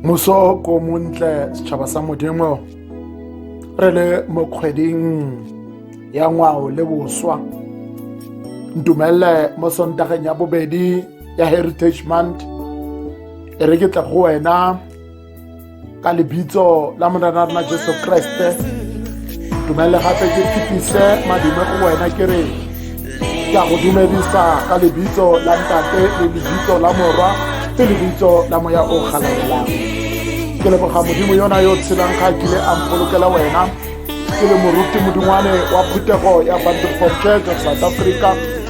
moso ko montle setšhaba sa modimo re le mo kgweding ya ngwao le boswa ntumelele mo sontageng ya bobedi ya heritage month e re ke tle go wena ka lebitso la morena rona jesu kreste dumelele gape ke phipise madime go wena ke re ke a go dumedisa ka lebitso la ntate le lebitso la morwa le lebitso la moya o galalelang ke leboga modimo yona yo tshelang ga kile a mpolokela wena ke le moruti modingwane wa phuthego ya banterford church of south africa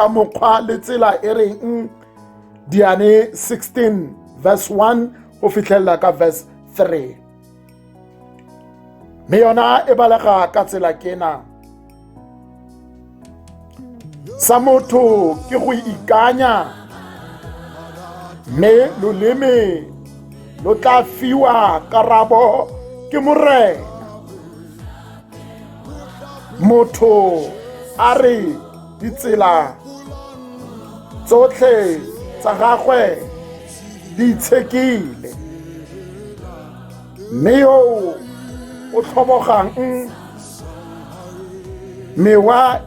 ka mokgwa le tsela e reng diane 16 verse 1 go fitlhelela ka verse 3 mme yona e balega ka tsela kena sa motho ke go ikanya mme loleme lo tla fiwa karabo ke morena motho a re ditsela tsotlhe tsa gagwe di itshekile mme yo o tlhobogang mewa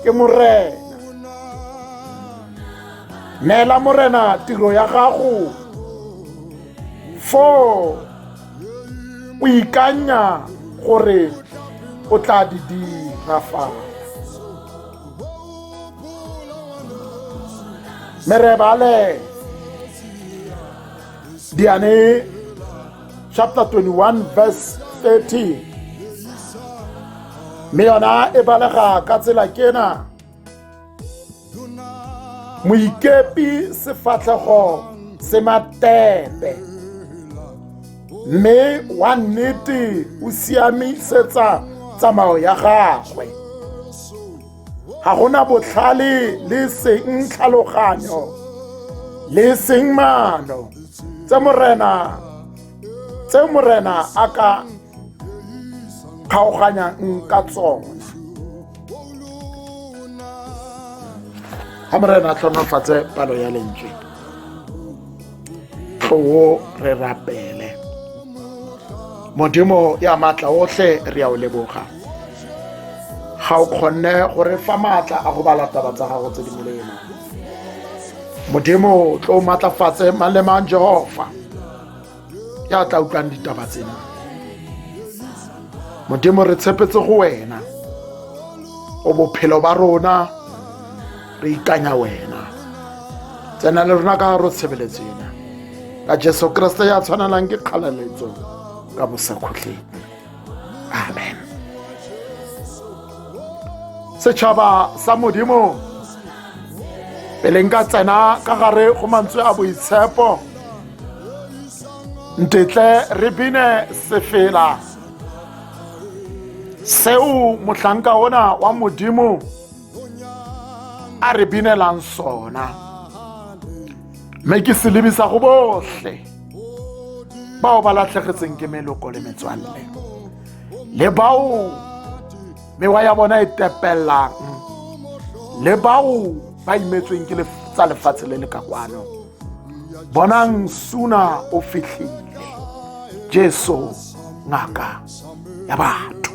ke morena neela morena tiro ya gago foo o ikanya gore o tla di dira fa merebale diane chapter 21 verse 13 mme yona e balega ka tsela kena moikepi sefatlhego se matepe mme wa nnete o siamisetsa tsamao ya gagwe ga gona botlhale le seng tlhaloganyo le seng maano tse morena tse morena a ka kgaoganyang ka tsona ga morena a tlhonofatse palo ya lentswe tlowo re rapele modimo ya maatla otlhe re ya o leboga ga o kgonne gore fa maatla a go bala taba tsa gago tse di molemo modimo tlo maatlafatse mang le mang jehova ya tla utlwang ditaba tsena modimo re tshepetse go wena o bophelo ba rona re ikanya wena tsena le rona ka ro tshebeletso ena ka jesu kriste ya tshwanelang ke kgaleletso ka bosakhutleng amen setšhaba sa modimo pele nka tsena ka gare go mantswe a boitshepo ntetle re bine sefela seo mohlanka ona wa modimo a re binelang sona mme ke se lebisa go botlhe bao ba latlhegetseng ke meloko le metswalle le bao mewa ya bona e tepelelang le bao ba imetsweng ke tsa lefatshe le le ka kwano bonang suna o fitlhile jesu ngaka ya batho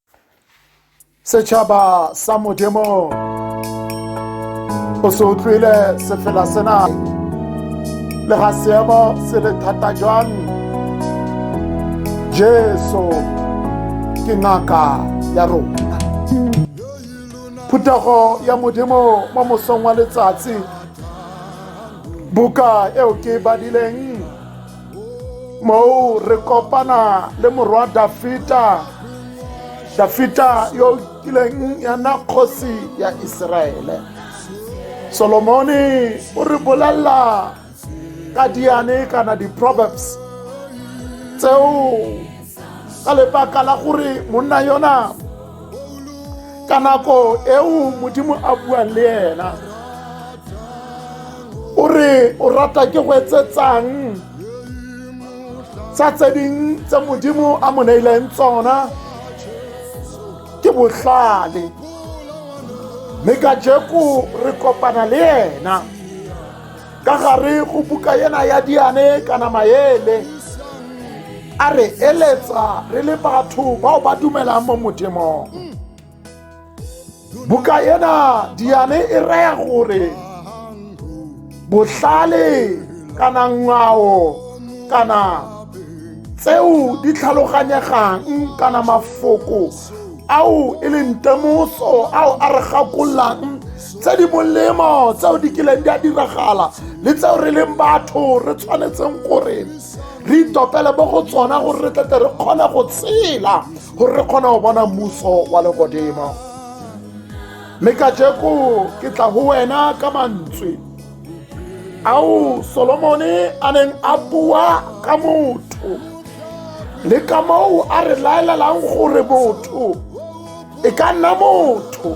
setšhaba sa modimo o se utlwile sefela sena le ga seemo se le thata jwang jesu ke ngaka ya rona phuthego ya modimo mo mosong wa letsatsi buka eo ke e badileng moo re kopana le morwa dafita dafita yo o kileng ya nna kgosi ya iseraele solomone o re bolelela ka diane kana di-proverbs tseo ka lebaka la gore monna yona ka nako eo modimo a buang le ena o re o rata ke go etsetsang tsa tse ding tse modimo a mo neileng tsona ke botlhale mme ka jeko re kopana le ena ka gare go buka ena ya diane kana maele a re eletsa re le batho bao ba dumelang mo modimong buka ena diane e raya gore botlhale kana ngwao kana tseo di tlhaloganyegang kana mafoko ao e leng temoso ao a re gakollang tse di molemo tseo di kileng di a diragala le tseo re leng batho re tshwanetseng gore re itopele mo go tsona gore re tlete re kgone go tshela gore re kgone go bona mmuso wa legodimo mme ka jeko ke tla go wena ka mantswe ao solomone a neng a bua ka motho le ka moo a re laelelang gore motho e ka nna motho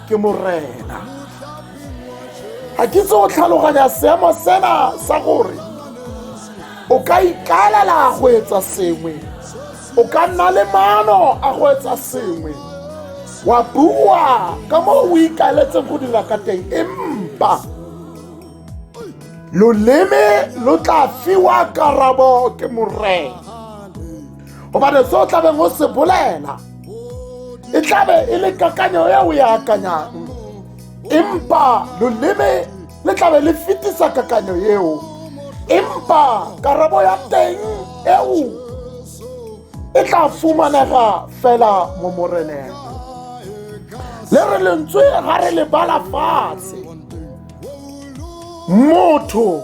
ke morena ga ke tse o tlhaloganya seemo sena sa gore o ka ikaelela go etsa sengwe o ka nna le maano a go etsa sengwe wa bua ka moo o ikaeletseng go dira ka teng empa loleme lo tla fiwa karabo ke morena gobane se o tlabeng o se bolela e tlabe e le kakanyo e o e akanyang empa loleme le tlabe le fetisa kakanyo eo empa karabo ya teng eo e tla fumanega fela mo moreneng le re lentswe ga re le bala fatshe motho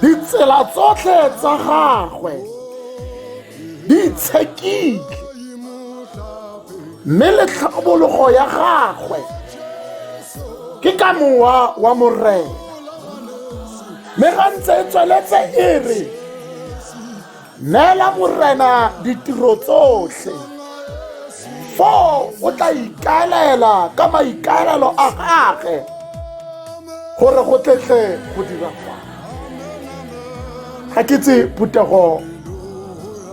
ditsela tsotlhe tsa gagwe di itshekile mme le tlhabologo ya gagwe ke ka mowa wa morena mme ga ntse e tsweletse e re neela morena ditiro tsotlhe foo o tla ikaelela ka maikaelelo a gage gore go tletle go dira fa ga ke tse phuthego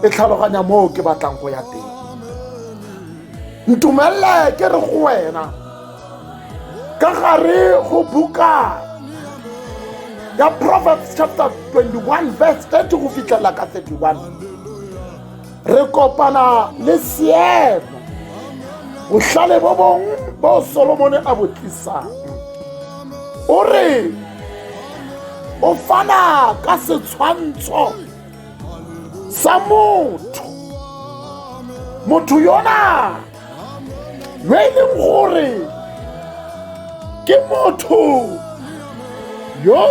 e tlhaloganya moo ke batlang go ya teng ntumelele ke re go wena ka gare go buka ya proverbs chapter 21 verse 30 go fitlhela ka 31 re kopana le seemo botlhale bo bongwe bo solomone a bo tlisang o re o fana ka setshwantsho sa motho motho yona yo e leng gore ke motho yo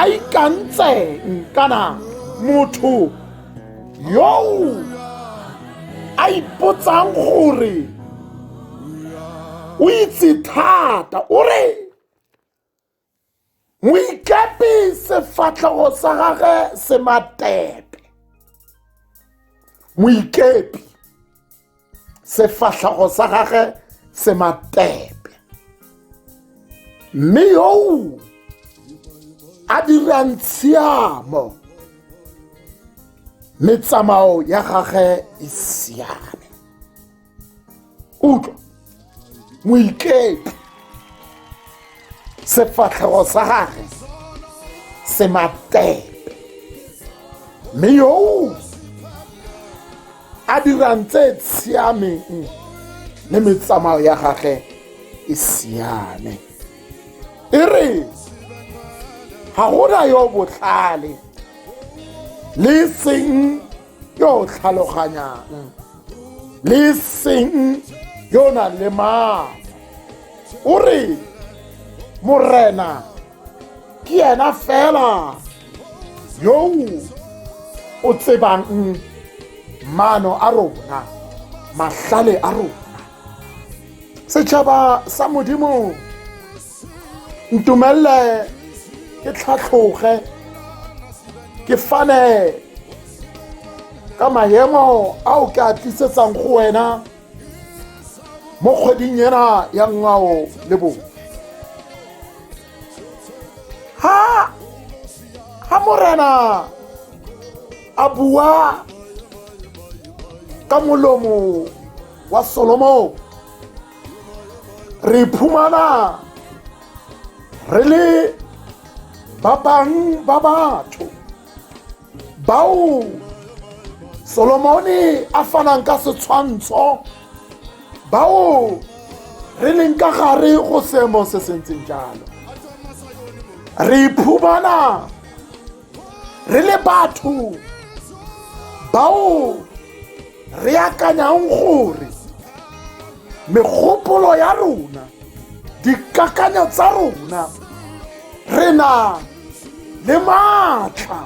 a ikantseng kana motho yo a ipotsang gore o itse thata o re moikepi sefatlhego sa gage se matepe moikepi sefatlhego sa gage se matepe mme yoo a dirang tshiamo metsamao ya gage e siame utlwa moikepe sefatlhego sa gage se matepe mme yoo a dirang tse tshiameng le metsamao ya gage e siame e re ga gona yo botlhale le seng yo o tlhaloganyang le seng yo o nang le maatla o re morena ke ena fela yo o tsebang maano a rona mahlale a rona setšhaba sa modimo ntumelele ke tlhatlhoge ke fane ka maemo ao ke a tlisetsang go wena mo kgweding ena ya ngwao le bong ha ha morena a bua ka molomo wa solomon re iphumana re le ba bang ba batho bao solomone a fanang ka setshwantsho bao re leng ka gare go seemo se se ntseng jalo re iphumana re le batho bao re akanyang gore megopolo ya rona dikakanyo tsa rona re na le maatla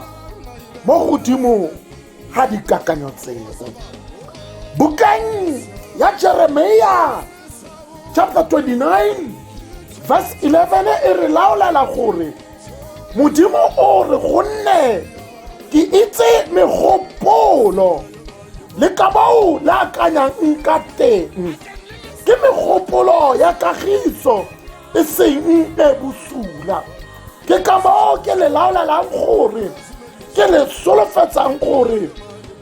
mo godimo ga dikakanyo tseo bukeng ya jeremia chapter 29 verse 11 e re laolela gore modimo o re gonne ke itse megopolo le ka bao le akanyang ka teng ke megopolo ya kagiso e seng e bosula ke ka moo ke le laolelang gore ke le solofetsang gore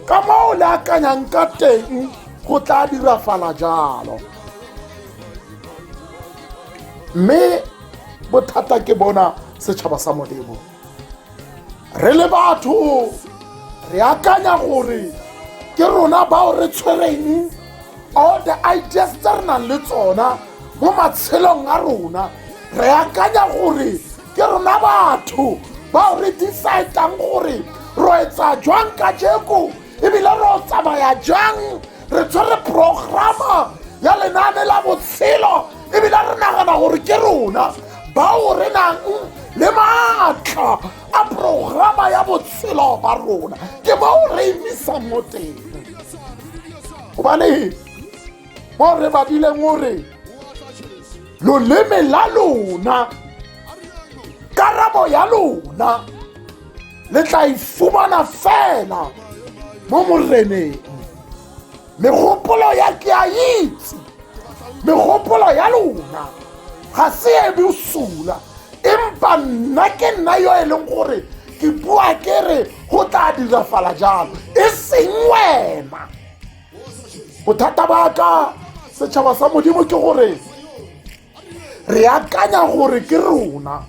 ka moo le akanyang ka teng go tla dirafala jalo mme bothata ke bona setšhaba sa modimo re le batho re akanya gore ke rona bao re tshwereng all the ideas tse re nang le tsona mo matshelong a rona re akanya gore ke rona batho bao re decide-ang gore ro etsa jwang ka jeko ebile re o tsamaya jang re tshwere programa ya lenaane la botshelo ebile re nagana gore ke rona bao re nang le maatla a programa ya botshelo ba rona ke bao re emisang mo teng gobane mo re badileng o re loleme la lona karabo ya lona le tla e fumana fela mo moreneng megopolo ya ke a itse megopolo ya lona ga se e bosula empa nna ke nna yo e leng gore ke bua ke re go tla dirafala jalo e seng wena bothata ba ka setšhaba sa modimo ke gore re akanya gore ke rona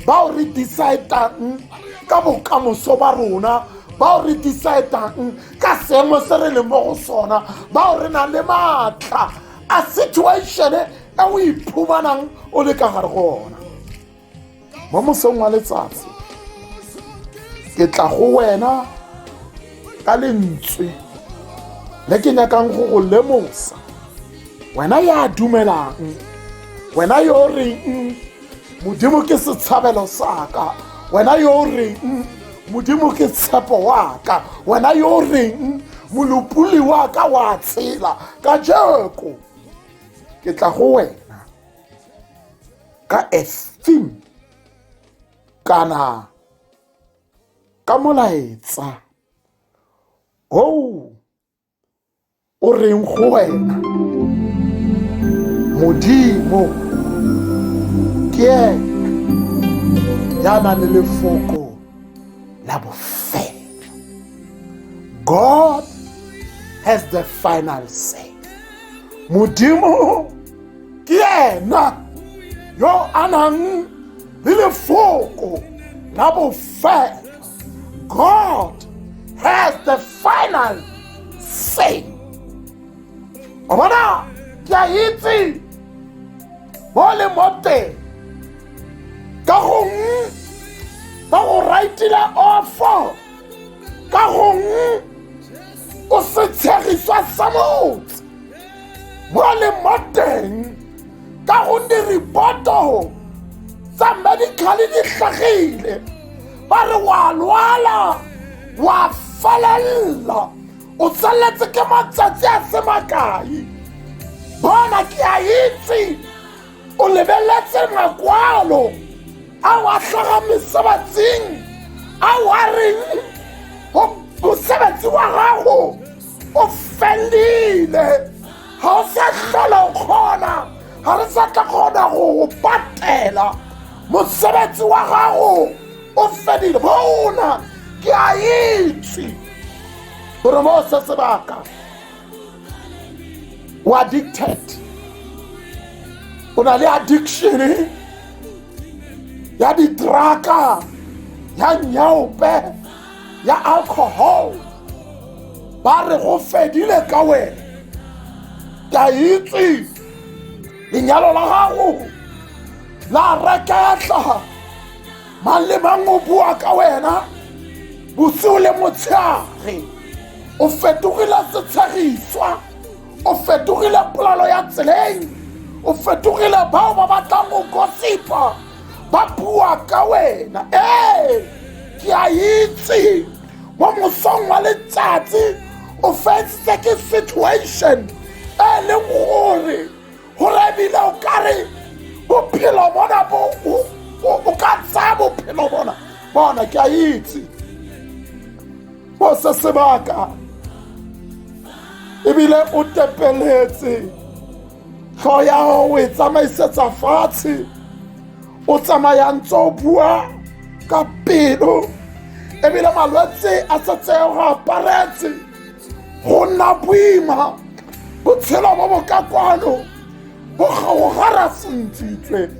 bao re decide-ang ka bokamoso ba rona bao re decide-ang ka seemo se re leng mo go sona bao re nang le maatla a situation e o iphumanang o le ka gare go ona mo mosong wa letsatsi ke tla go wena ka lentswe le ke nyakang go go lemosa wena ya dumelang wena yo o reng modimo ke setshabelo sa ka wena yo o reng modimo ke tshepo wa ka wena yo o reng molopoli wa ka wa tshela ka jeko ke tla go wena ka a theme kana ka molaetsa o o reng go wena modimo ke ena ya nang le lefoko la bofelo god has the final say modimo ke ena yo a nang le lefoko la bofela god has the final say o bona ke a itse mo le mo teng ka gongwe ba go raitile ofo ka gongwe o se tshegiswa sa motse mo le mo teng ka gonne ripoto tsa medical di tlhagile ba re wa lwala wa felelela o tsaletse ke matsatsi a se makae bona ke a itse o lebeletse makwalo a wa tlhaga mesebatsing a wa reng mosebetsi wa gago o felile ga o sa tlhola o kgona ga re sa tla kgona go go patela mosebetsi wa gago o fedile bona ke a itse gore mo se sebaka o addicted o na le addiction ya ditraka ya nyaope ya alcohol ba re go fedile ka wena ke a itse lenyalo la gago la reketla mang le mang o bua ka wena bosigo le motshegare o fetogile setshegiswa o fetogile polelo ya tseleng o fetogile bao ba batlang go gosipa ba bua ka wena ee ke a itse mo mosong wa letsatsi o feditse ke situation e leng gore gore ebile o kare bophelo bona bo o ka tsaya bophelo bona bona ke a itse bo se sebaka ebile o tepeletse tlho ya gago o e tsamaisetsa fatshe o tsamayang tse o bua ka pelo ebile malwetse a setseye go aparetse go nna boima botshelo bo bo ka kwano bo gaogara sentsitswe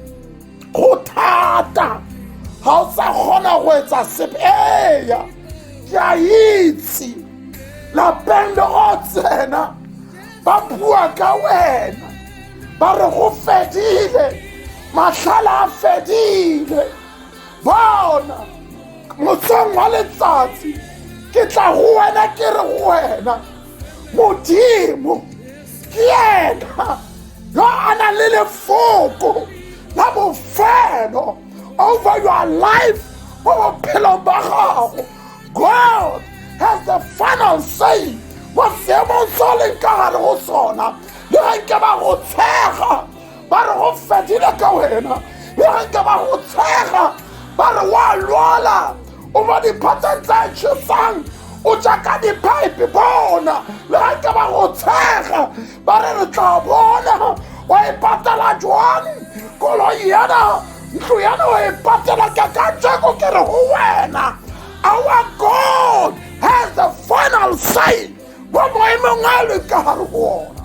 go thata ga o sa kgona go etsa sepe eya ke a itse lapeng le go tsena ba bua ka wena ba re go fedile matlhala a fedile bona motsong wa letsatsi ke tla go wena ke re go wena modimo ke ena yo a nang le lefoko la bofelo over your life mo bophelong ba gago God has the final say kwa seemong se o leng ka gare go sona le ge nke ba go tshega ba re go fedile ka wena le ge nke ba go tshega ba re wa lwala o ba diphatseng tse tšhesang o jaaka diphaepe bona le ge nke ba go tshega ba re re tla bona wa e patela jwang koloi yana ntlo yana wa e patela ka ka tseko ke re go wena our god has the final say mo maemong a le ka gare go ona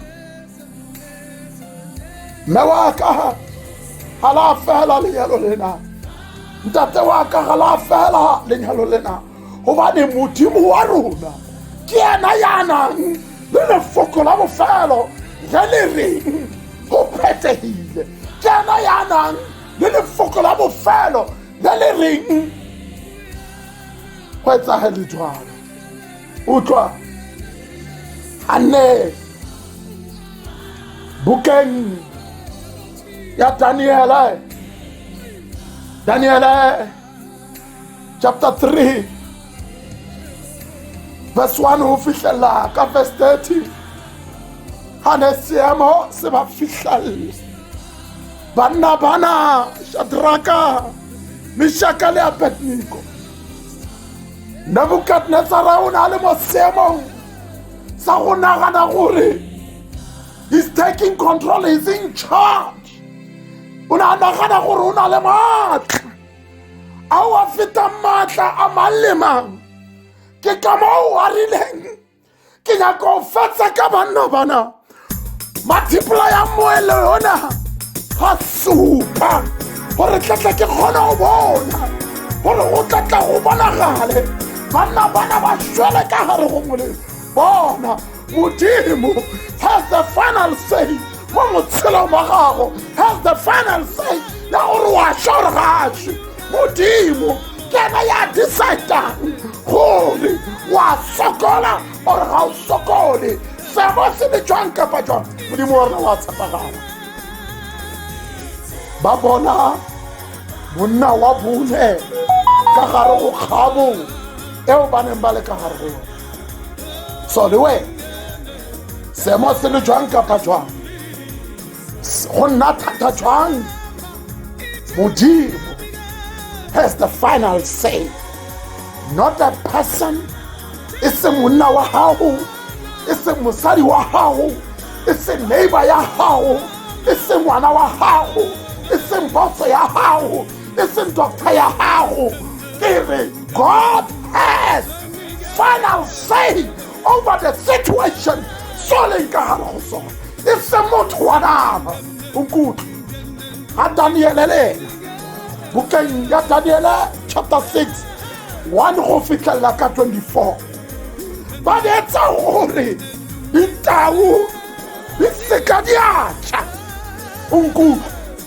mme wa ka ga la fela lenyalo lena ntate wa ka ga la fela lenyalo lena gobane modimo wa rona ke ena ya nang le lefoko la bofelo ge le reng go phethegile ke ena ya nang le lefoko la bofelo le le reng go etsagele jalo utlwa a nne bukeng ya daniele daniele chapter 3 verse 1 ho fihlela ka verse 30 ha ne seemo se ba fihlelle banna bana shadraka meshaka le abednego nebukadnetsara o ne a le mo seemong sa go nagana gore he's taking control he's in charge o ne a nagana gore o na le maatla a wa feta maatla a mang le mang ke ka moo a rileng ke nyaka go fetsa ka banna bana mathipola ya moele yona ga supa gore tlatla ke kgona go bona gore go tlatla go bonagale banna bana ba swele ka gare go molelo bona modimo has the final say mo motshelong wa gago has the final say ya gore wa sha gore ga a swe modimo ke ena ya decidang gore wa sokola gore ga o sokole sebo se le jwang kapa jwang modimo wa rona wa tshepagala ba bona monna wa bone ka gare go kgabo eo ba neng ba le ka gare go yone so le wena seemo se le jwang kapa jwang go nna thata jwang modimo has the final say not a person e se monna wa gago e se mosadi wa gago e se neighbor ya gago e se ngwana wa gago e se mposo ya gago e seng doctor ya gago ke re god has final say over the situation so leng ka gare go sone e seng motho wa nama onkutlwe ga daniele le ena bukeng ya daniele chapter 6 1 go fitlhelela ka 24 ba neetsa gore ditau di seka di a tšha onkutlwe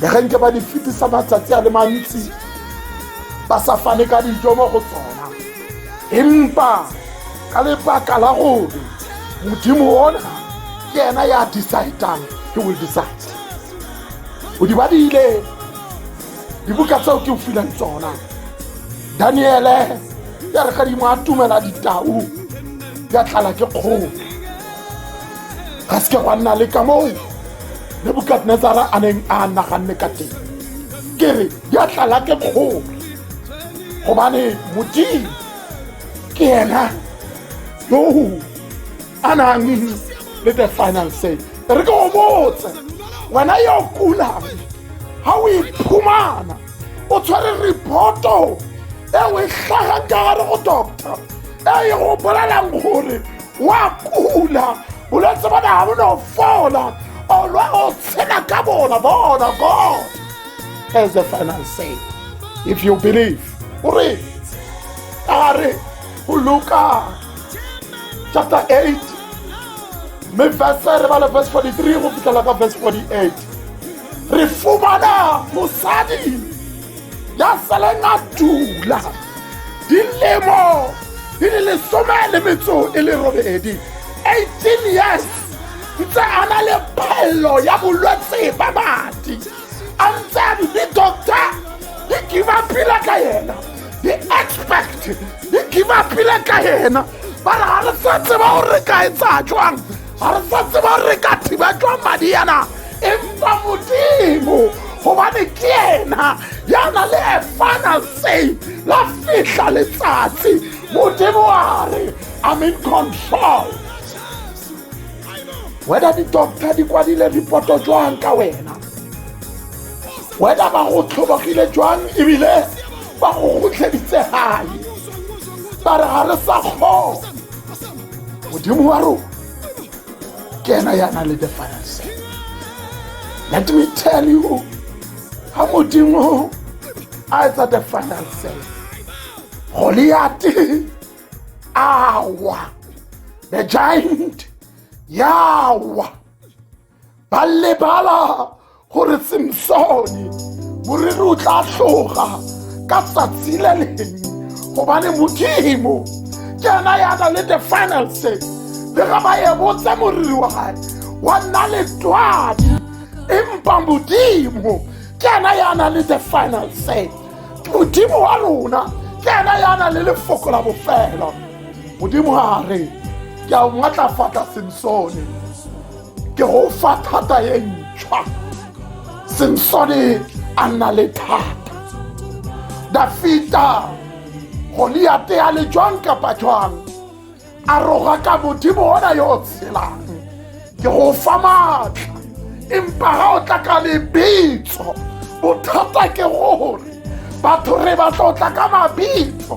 le ge nke ba di fetisa matsatsi a le mantsi ba sa fane ka dijo mo go tsona empa ka lebaka la gore modimo ona ke ena ya decidang he will decide o di badile dibuka tseo ke o filang tsona daniele ya re gadimo a tumela ditau ya tlala ke kgolo ga se ke gwa nna le ka moo nebukadnezara a neng a naganne ka teng ke re di a tlala ke kgolo gobane modimo ke ena yo a nang le the final say re ke o botse wena yo kulang ga o iphumana o tshwere reporto e o e tlhagang ka gare go doctor e e go bolelang gore wa kula bolwetse bona ga bo no fola olwa o tshela ka bona bona god as the final say if you believe o re a re go luka chapter 8 mme verse re bale verse 43 go fitlhela ka verse 48 re fumana mosadi ya sale na dula dilemo di le lesome le metso e le robedi 18 years ntse a na le phello ya bolwetse ba madi a ntse a di doctor di kiba pila ka yena di expect di kiba pila ka yena ba re ga re sa tseba gore re ka etsa jwang ga re sa tseba re ka thiba jwa madi yana empa modimo gobane ke ena ya na le a final say la fihla letsatsi modimo a re i'm in control whether di-doctor di kwadile ripoto jwang ka wena whether ba go tlhobogile jwang ebile ba go kgotlheditse gae ba re ga re sa kgona modimo wa rona ke ena ya nang le the final say let me tell you ga modimo a etsa the final say goliate awa the giant yawa ba lebala gore semsone moriri o tla tloga ka tsatsi le leng gobane modimo ke ena ya na le the final say le ga ba ebotse moriri wa gae wa nna letswadi empa modimo ke ena ya na le the final say modimo wa rona ke ena ya na le lefoko la bofelo modimo ga re ke a o matlafatla semsone ke go fa thata e ntšhwa samsone a nna le thata dafita goliate a le jwang kapa jwang a roga ka modimo ona yo o tshelang ke go fa maatla empa ga o tla ka lebitso bothata ke gore batho re batla o tla ka mabitso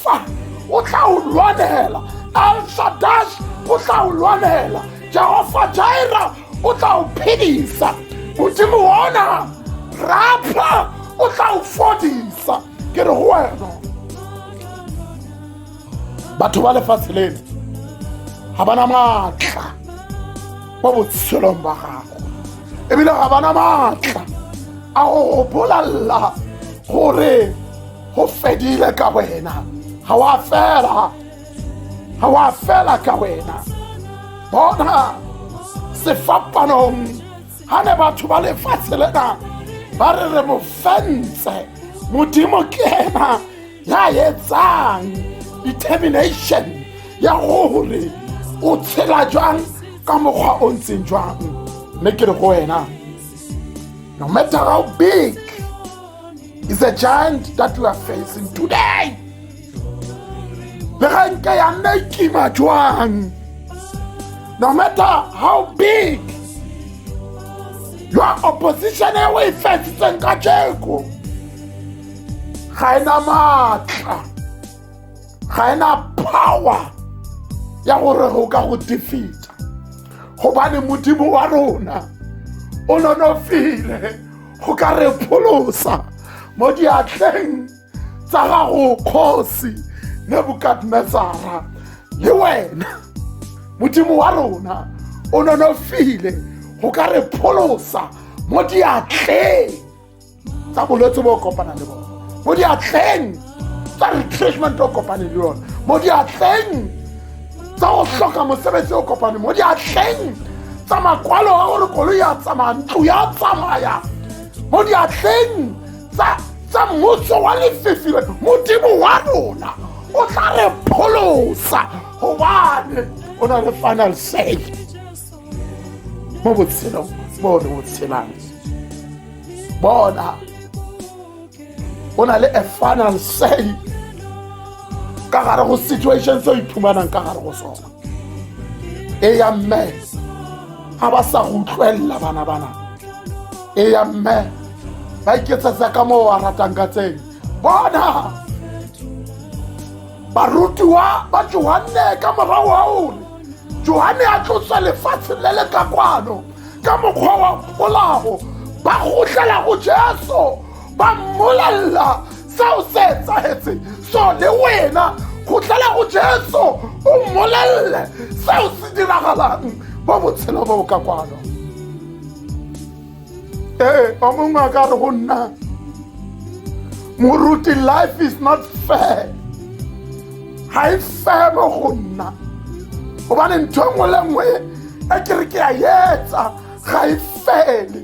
fa o tla o lwanela alshadash o tla o lwanela jehova jaira o tla o phedisa modimo ona rapha o tla o fodisa ke re go wena batho ba lefatshe leno ga ba na maatla mo botshelong ba gago ebile ga ba na maatla a go go bolalela gore go fedile ka wena ga wa fela ga wa fela ka wena bona sefapanong ga ne batho ba lefatshe lena ba re re mo fentse modimo ke ena ya etsang determination ya gore o tshela jwang ka mokgwa o ntseng jwang mme ke re go wena no matter how big is a giant that we are facing today le ga nke ya nna e kima jwang no matter how big your opposition e o e fetsitseng ka jeko ga e na maatla ga e na power ya gore go ka go defeata gobane modimo wa rona o nonofile go ka re pholosa mo diatleng tsa gago kgosi nebukadnezara le wena modimo wa rona o nonofile go ka re pholosa mo diatleng tsa bolwetse bo kopana le bone mo diatleng tsa retrenchment o kopane le yone mo diatleng tsa go tlhoka mosebetsi o kopane mo diatleng tsa makwalo a gore koloi ya tsamaya ntlo ya tsamaya mo diatleng tsa mmuso wa lefefile modimo wa rona o tla re pholosa gobane o na le final say mo botshelong mo re botshelang bona o na le a final say ka gare go situation se o iphumanang ka gare go sona e ya mme ga ba sa go utlwelela bana bana e ya mme ba iketsetsa ka moo wa ratang ka tseng bona barutiwa ba johanne ka morago ga one johanne a tlotswa lefatshe le le ka kwano ka mokgwa wa polao ba gotlela go jesu ba mmolelela seo se etsagetseng so le wena gotlela go jesu o mmolelele seo se diragalang mo botshelo bo bo ka kwano ee o mongwe a ka re go nna moruti life is not fair ga e febe go nna gobane ntho e nngwe le nngwe e ke re ke a etsa ga e fele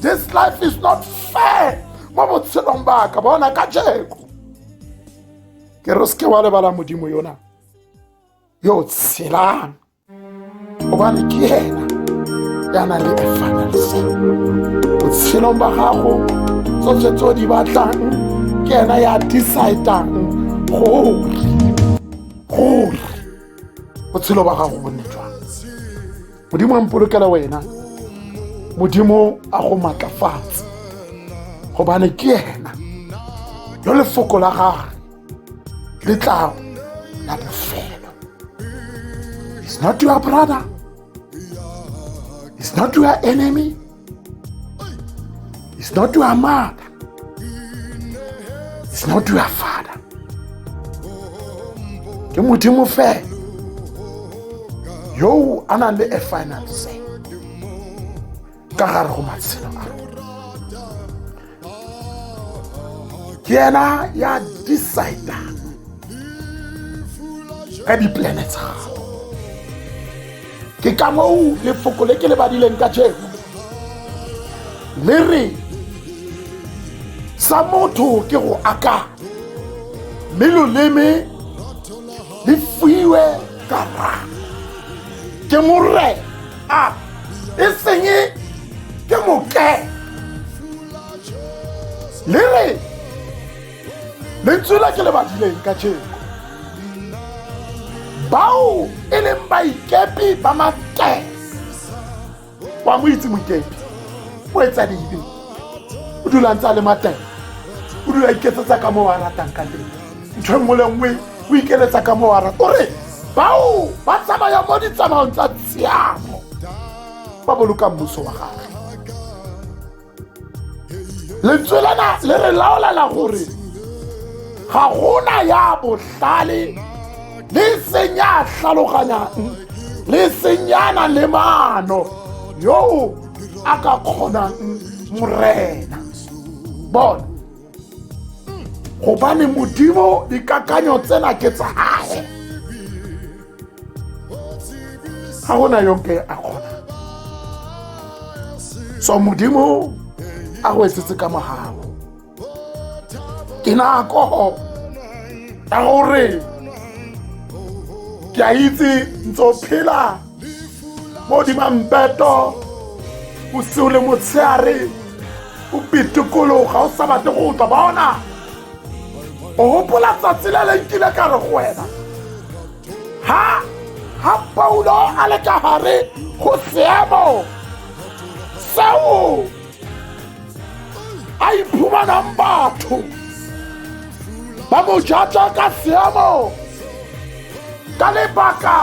this life is not fair mo botshelong baka bona ka jeko ke re o seke wa lebala modimo yona yo tshelang gobane ke ena ya na le efanalisa botshelong ba gago tsotlhe tse o di batlang ke ena ya decidang gore gore botshelo ba gago bonne jwang modimo a mpolokela wena modimo a go maatlafatse gobane ke ena lo lefoko la gage letlao la bofelo is not your brother is not your enemy is not your mother is not your father ke modimo fela yo a nang le a final say ka gare go matshelo a ke ena ya decide ka diplane tsa gago ke ka moo lefoko le ke le badileng ka jeko le re sa motho ke go aka mme loleme le fuiwe karang ke morena Ah! ìsìnyí kí mo kẹ́ lérè lentswe la ke le badileng ka jeko bao e leng baikepi ba makee wa mo itse moikepi o etsa dibe o dula ntse a le mateng o dula iketsetsa ka mo wa ratang ka teng ntho e nngwe le nngwe o ikeletsa ka mo ara o re bao ba tsamaya mo ditsamaong tsa tshiamo ba boloka mmuso wa gage lentswe lena le re laolela gore ga gona ya botlhale le seng ya tlhaloganyang le seng ya na le maano yoo a ka kgonang morena bona gobane modimo dikakanyo tsena ke tsa gage ga gona yonke a kgona so modimo a go etsetse ka mogago ke nako ya gore ke a itse ntse o phela mo dimambeto bosigo le motshegare o pitikologa o sa batle go utlwa bona o gopola tsatsi le le nkile ka re go wena ha ha paulo a le ka gare go seemo seo a iphumanang batho ba mo jatsa ka seemo ka lebaka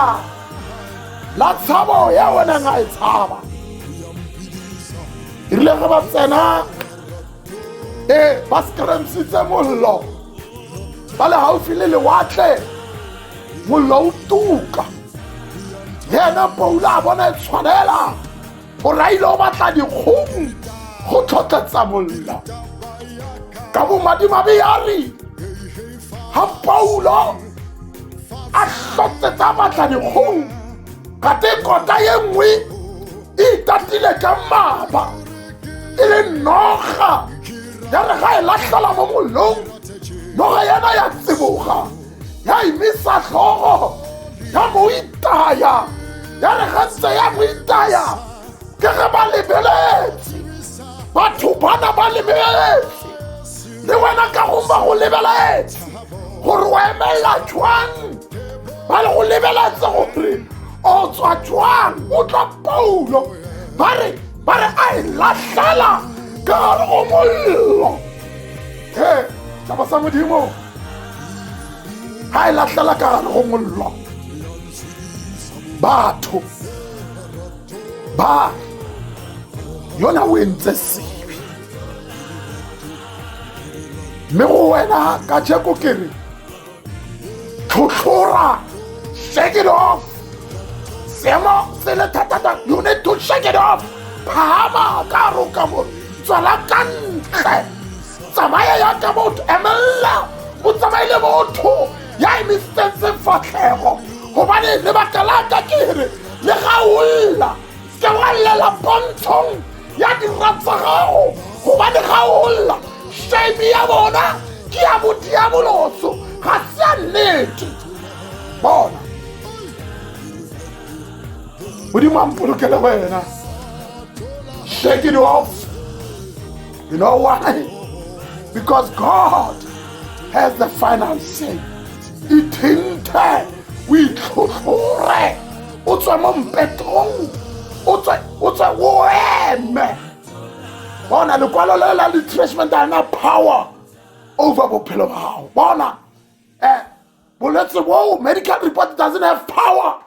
la tshabo ya o neng a e tshaba e rile ge ba tsena e ba scramsitse mollo ba le gaufi le lewatle mollo o tuka yena poula a bona e tshwanela o raile o batla dikgomo go tlhotlhetsa mollo ka bomadimabe ya re ga paulo a tlhotsetsa batla dikgomo gate kota ye nngwe e itatile ka mmaba e le noga ya re ga e latlhela mo mollong noga yana ya tseboga ya emisa tlhogo ya mo itaya ya re ga ntse ya mo itaya ke ge ba lebeletse batho bana ba lebeletse le wena ka go ba go lebeletse gore o emelela jwang ba le go lebeletse gore o tswa jwang o tla paulo ba re ba re a e latlhela ka gare go mollo e saba sa modimo ga e latlhela ka gare go mollo batho ba yona o entse sebe mme go wena ka jeko ke re tlhotlhora shake it off seemo se le thatata you need to shake it off phama ka roka mo tswela ka ntle tsamaya yaka motho emelela o tsamaile motho ya emisitsetseng fatlhego gobane lebaka la ka ke re le ga o lla se wa llela pontshong ya dira tsa gago gobane ga o lla shame ya bona ke ya modiaboloso ga se ya nnete bona modimo a mpolokele wena shake it off You know why? Because God has the final say. Ithinte o itlhotlhore o tswa mo mpetong o tswa o tswa o eme bona lekwalo le la retracement a na power over bophelo ba gago bona um bolwetse boo medical report doesn't have power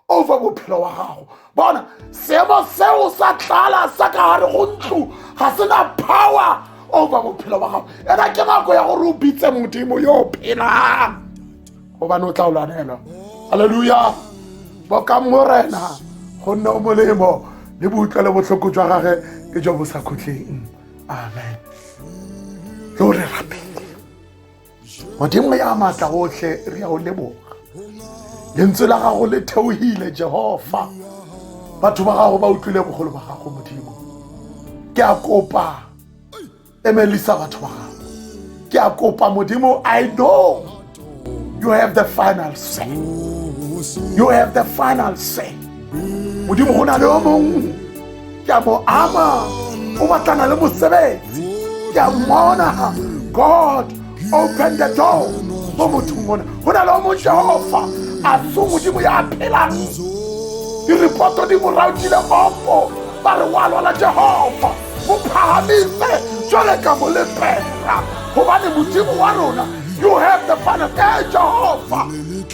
over bophelo wa gago bona seemo seo sa tlala sa ka gare go ntlo ga se na power over bophelo wa gago ena ke nako ya gore o bitse modimo yo o phelang gobane o tla o lwanelwa halleluja boka morena gonne o molemo le boutlwa le botlhoko jwa gage ke jo bo sa khutleng amen lo re rapele modimo ya maatla otlhe re ya o leboga lentswe la gago le theogile jehofa batho ba gago ba utlwile bogolo ba gago modimo ke a kopa emelisa batho ba gago ke a kopa modimo i know you have the final say you have the final say modimo go na le yo mongwe ke a mo ama o batlana le mosebetsi ke a mmona god open the door mo mothong ona go na le o mo jehofa a se modimo ya a phelang direpoto di mo rautile ofo ba re wa lwala jehofa bo phahamile jwale ka mo lefela gobane modimo wa rona you have the final e eh, jehova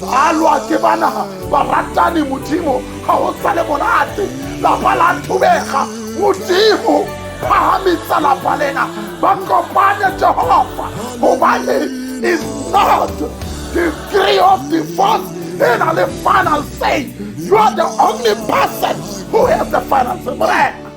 a lwa ke banaga baratani modimo ga o sale monate lapa la thubega modimo phahamisa lapa lena ba kopane jehova gobane is not the three of divorce e na le final say you are the only person who has the final say morena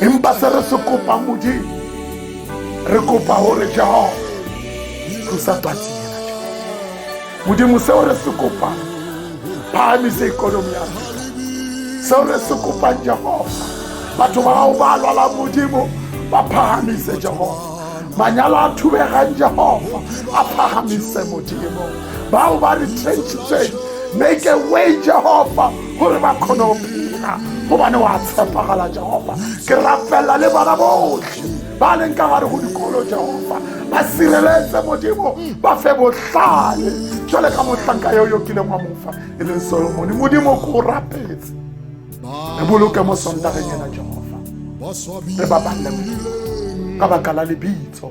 empa se re se kopang modimo re kopa gore jehova thusa patsi ena jehova modimo seo re se kopang phahamise ikonomi ya rona seo re se kopang jehova batho ba gago ba lwala modimo ba phahamise jehova manyalo a thubegang jehova a phagamise modimo bao ba retrenchitsweng make a way jehova gore ba kgone go phela gobane wa tshepagala jehova ke rapelela le bana botlhe ba leng ka gare go dikolo jehova ba sireletse modimo ba fe botlhale jale ka motlhanka yo yo kileng wa mofa e leng solomone modimo ko o rapetse re boloke mo sontageng ena jehova re babalele modimo ka baka la lebitso